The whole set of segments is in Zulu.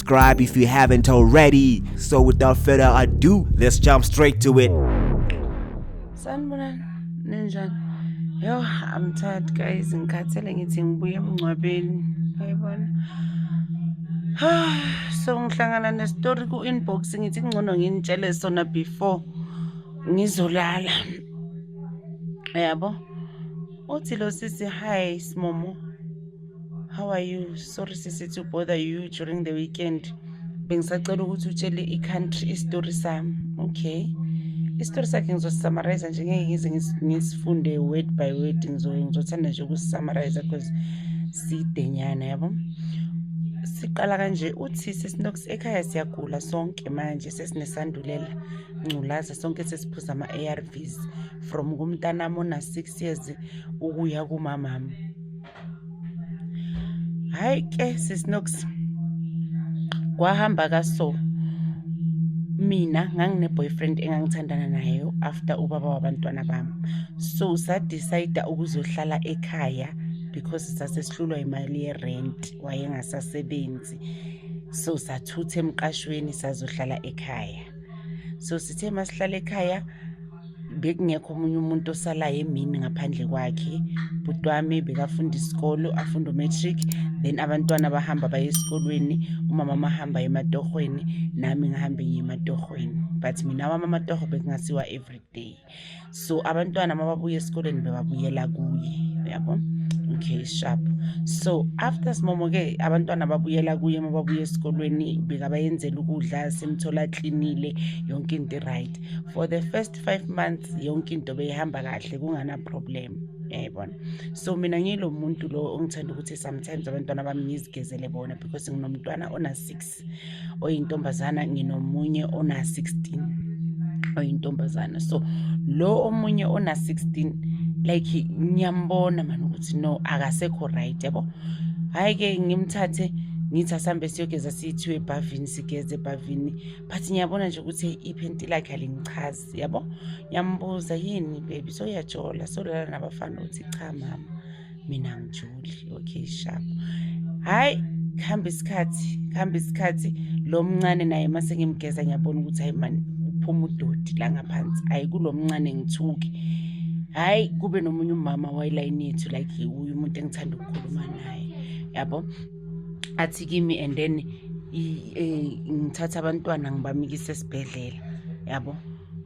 subscribe if you haven't already. So without further ado, let's jump straight to it. Sanibonani, ninjani? Yo, I'm tired guys, ngikhathele ngithi ngibuye emngcwabeni. Ayibona. So ngihlangana ne story ku inbox ngithi kungcono nginitshele sona before ngizolala. Yabo? Uthi lo sisi hi simomo. how are you sorry sisi to bother you during the weekend bengisacela ukuthi utshele i-country isitori sami okay isitori sakhe ngizosisamariza nje ngeke ngize ngisifunde word by word ngizothanda nje ukusisamariza because sidenyana yabo siqala kanje uthi sesinox ekhaya siyagula sonke manje sesinesandulela ngculaza sonke sesiphuza ama-arvs from kumntanami ona-six years ukuya kumamami hayi ke sisnox kwahamba kaso mina ngangine-boyfriend engangithandana nayo after ubaba wabantwana bami so sadicida ukuzohlala ekhaya because sasesihlulwa imali yerent wayengasasebenzi so sathutha emqashweni sazohlala ekhaya so sithe masihlala ekhaya bekungekho omunye umuntu osalayo emini ngaphandle kwakhe bhuti wami bekafunda isikolo afunda umatric then abantwana bahamba baye esikolweni umama mahamba ematohweni nami ngihambe ngiye ematohweni but mina wami amatoho bekungasiwa every day so abantwana mababuye esikolweni bebabuyela kuye yabo okay sharp so after simomo-ke abantwana babuyela kuye uma babuya esikolweni bekabayenzela ukudla simthola aklinile yonke into right for the first five months yonke into beyihamba kahle kunganaproblem yayibona so mina ngilo muntu lo ongithanda ukuthi sometimes abantwana bami ngizigezele bona because nginomntwana ona-six oyintombazana nginomunye ona-sixteen oyintombazana so lo omunye ona-sixteen like ngiyambona mani ukuthi no akasekho right yabo hhayi-ke ngimthathe ngithi asambe siyogeza siyithiwe ebhavini sigeze ebhavini but ngiyabona nje ukuthi iphenti lakhe alingichazi yabo ngiyambuza yini baby soyajola solala nabafana ukuthi cha mama mina ngijoli okay sharp hhayi kuhamba isikhathi kuhamba isikhathi lo mncane naye uma sengimgeza ngiyabona ukuthi hayi mani uphuma udodi la ngaphansi hhayi kulo mncane ngithuke hhayi kube nomunye umama wayilayini yethu like uye umuntu engithanda ukukhuluma naye yabo athi kimi and then e, ngithatha abantwana ngibamikise esibhedlela yabo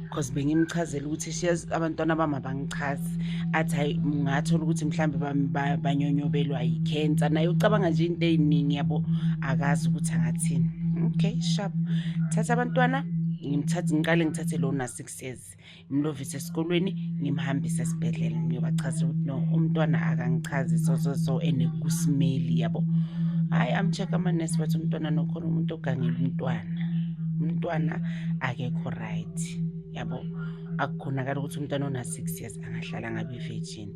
because bengimchazela ukuthi shes abantwana bami abangichazi athi hayi ngathola ukuthi mhlawumbe banyonyobelwa yi-cancer naye ucabanga nje into ey'ningi yabo akazi ukuthi angathini okay sharp thatha abantwana ngimthathe ngiqale ngithathe lona six years ngimlovise esikolweni ngimhambise esibhedlela ngiyobachazela ukuthi no umntwana akangichazi so so so and kusimeli yabo hhayi amcheck amanesi bathi umntwana nokhona umuntu ogangela umntwana umntwana akekho right yabo akukhonakala ukuthi umntwana ona-six years angahlala ngabe virgin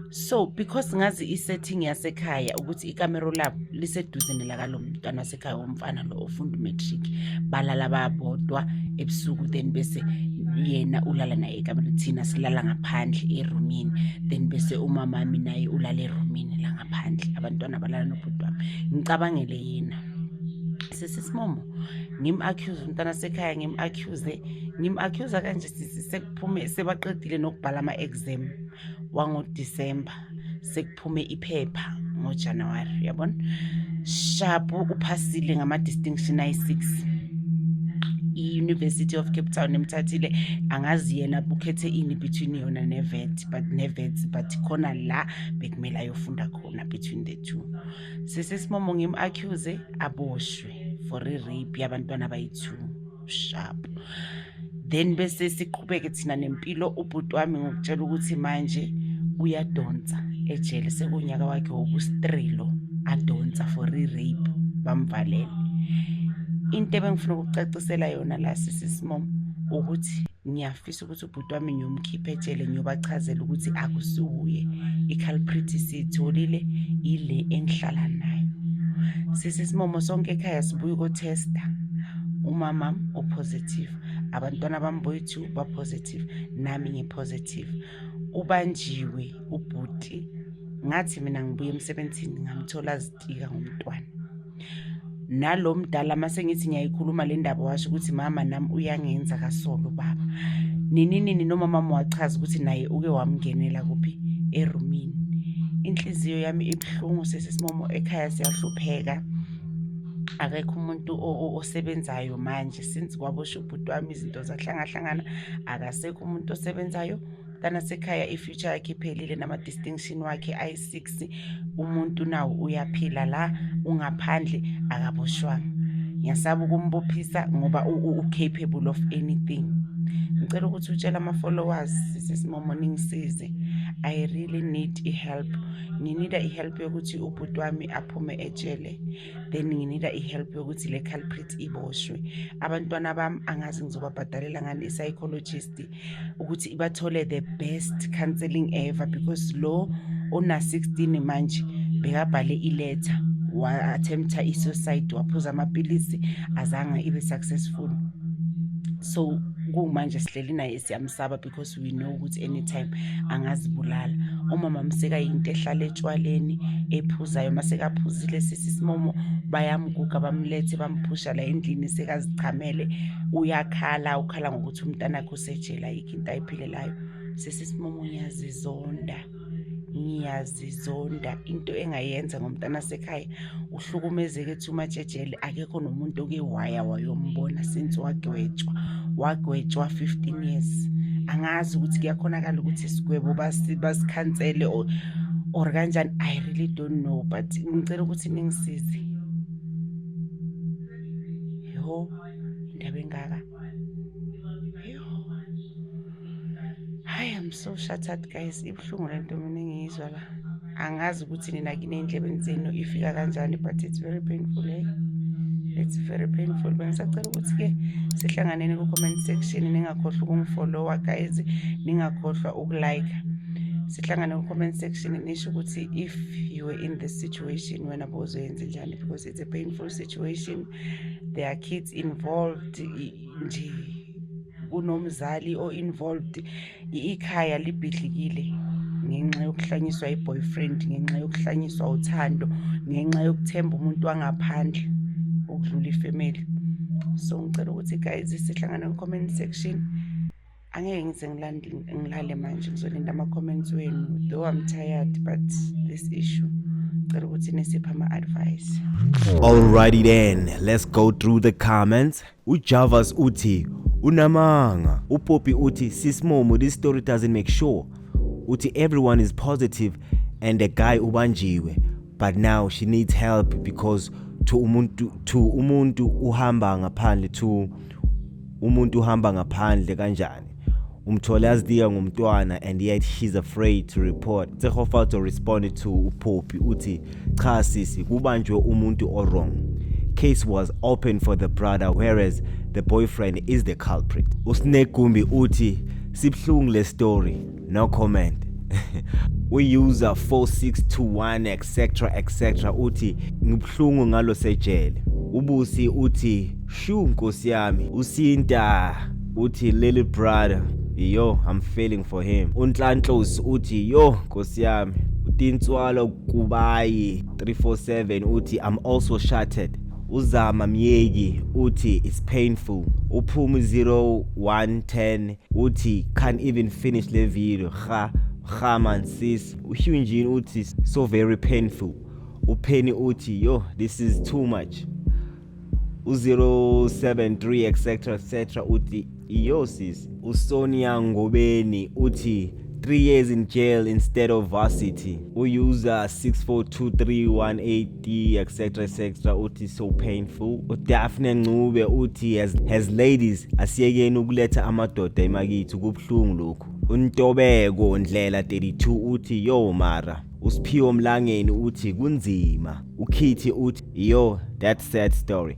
so because ngazi isetting yasekhaya ukuthi ikamero labo liseduze nelakalo mntwana wasekhaya womfana lo ofunda umatric balala babodwa ebusuku then bese yena ulala naye ekamereni thina silala ngaphandle erumini then bese umamami naye ulala erumini la ngaphandle abantwana balala nobhuti wami ngicabangele yena sisisimomo ngim-accuse umntana sekhaya ngim-accuse ngim-accuse kanje phume sebaqedile nokubhala ama-exam wangodisemba sekuphume iphepha ngojanuwari uyabona shapu uphasile ngama-distinction ayi-six i-university of cape town emthathile angazi yena ukhethe ini between yona nevet but nevet but khona la bekumele ayofunda khona between the two sesesimomo ngim-accuse aboshwe for i-rape yabantwana bayi-two sharp then bese siqhubeke thina nempilo ubhuti wami ngokutshela ukuthi manje uyadonsa ejele sekunyaka wakhe wokustrilo adonsa for i-rape bamvalele into ebengifuna ukucacisela yona la sisi smom ukuthi ngiyafisa ukuthi bhuti wami ngiyomkhipha etshele ngiyobachazela ukuthi akusiwuye i-culprit siyitholile yile engihlala nayo sise simomo sonke ekhaya sibuye ukotesta umama upositive abantwana bami boyithu bapositive nami ngipositive ubanjiwe ubhuti ngathi mina ngibuye emsebenzini ngamthola azitika ngomntwana nalo mdala uma sengithi ngiyayikhuluma le ndaba washo ukuthi mama nami uyangenza kasolo baba nini nini nomamama wachaza ukuthi naye uke wamngenela kuphi erumini inhliziyo yami ibuhlungu sesisimomo ekhaya siyahlupheka akekho umuntu osebenzayo manje since kwabosha ubhuti wami izinto zahlangahlangana akasekho umuntu osebenzayo kanasekhaya i-future yakhe iphelile nama-distinction wakhe ayi-six umuntu nawo uyaphila la ungaphandle akaboshwanga ngiyasaba ukumbophisa ngoba u-capable of anything ngicela ukuthi utshele ama-followers sisesimomo ningisize i really need i-help nginida i-help yokuthi ubhuti wami aphume etshele then nginida i-help yokuthi le culprit iboshwe abantwana bami angazi ngizobabhadalela ngani i-psychologist ukuthi ibathole the best counseling ever because lo ona 16 manje bekabhale iletha wa-attempta i-suicide waphuza amapilisi azange ibe successful so kumanje sihleli naye siyamsaba because we know ukuthi anytime angazibulala umama mseka yinto ehlala etshwaleni ephuzayo uma sekaphuzile sisi simomo bayamguga bamlethe bamphusha la endlini sekazichamele uyakhala ukhala ngokuthi ukuthi umntanakhe usejela yikho into ayiphilelayo sesisimomo ngiyazizonda ngiyazizonda into engayenza ngomntana sekhaya uhlukumezeke ethi umatshejele akekho nomuntu oke waya wayombona since wagwetshwa wagwetshwa 15 years angazi ukuthi kuyakhonakala ukuthi isigwebo basikhansele or, or kanjani i really don't know but ngicela ukuthi ningisize yho indaba engaka hayi am so shattered guys ibuhlungu le nto mina engiyizwa la angazi ukuthi nina kini ey'ndlebeni zenu ifika kanjani but it's very painful eh? it's very painful bengisacela ukuthi-ke sihlanganeni ku-comment section ningakhohlwa ukungifolowa guys ningakhohlwa ukulike sihlangane ku-comment section nisho ukuthi if you were in this situation wena bozoyenze njani because it's a painful situation there are kids involved nje kunomzali o-involved ikhaya libhidlikile ngenxa yokuhlanyiswa i-boyfriend ngenxa yokuhlanyiswa uthando ngenxa yokuthemba umuntu wangaphandle ukudlula ifemeli so ngicela ukuthi guys sihlangane ku-comment section angeke ngize ngilande ngilale manje ngizolinda ama-comments wenu though i'm tired but this issue cela ukuthi nisiphe ama-advice alrighty then let's go through the comments ujavas uthi unamanga upopi uthi sismomo this story doesn't make sure uthi everyone is positive and the guy ubanjiwe but now she needs help because to umuntu to umuntu uhamba ngaphandle to umuntu uhamba ngaphandle kanjani umthole azitika ngomntwana and yet she's afraid to report tsehofalto responded to upopi uthi cha sisi kubanjwe umuntu owrong case was open for the brother whereas the boyfriend is the culprit usinegumbi uthi sibuhlungu le story no comment user 4621 etc etc uthi ngibuhlungu ngalo sejele ubusi uthi shu nkosi yami usinta uthi little brother yo i'm feeling for him unhlanhlosi uthi yo nkosi yami utintswalo kubayi 347 uthi i'm also shattered uzama myeki uthi it's painful uphumi 0110 uthi can't even finish le video ha ha man sis uhyunjini uthi so very painful upheni uthi yo this is too much u-073 etc etc uthi iyo sis usonia ngobeni uthi 3 years in jail instead of varsity uyuza 642318 D etc etc uthi so painful uDaphne Ncube uthi as, as ladies asiyekeni ukuletha amadoda emakithi kubhlungu lokhu uNtobeko Ndlela 32 uthi yo mara uSiphiwo Mlangeni uthi kunzima ukhithi uthi yo that sad story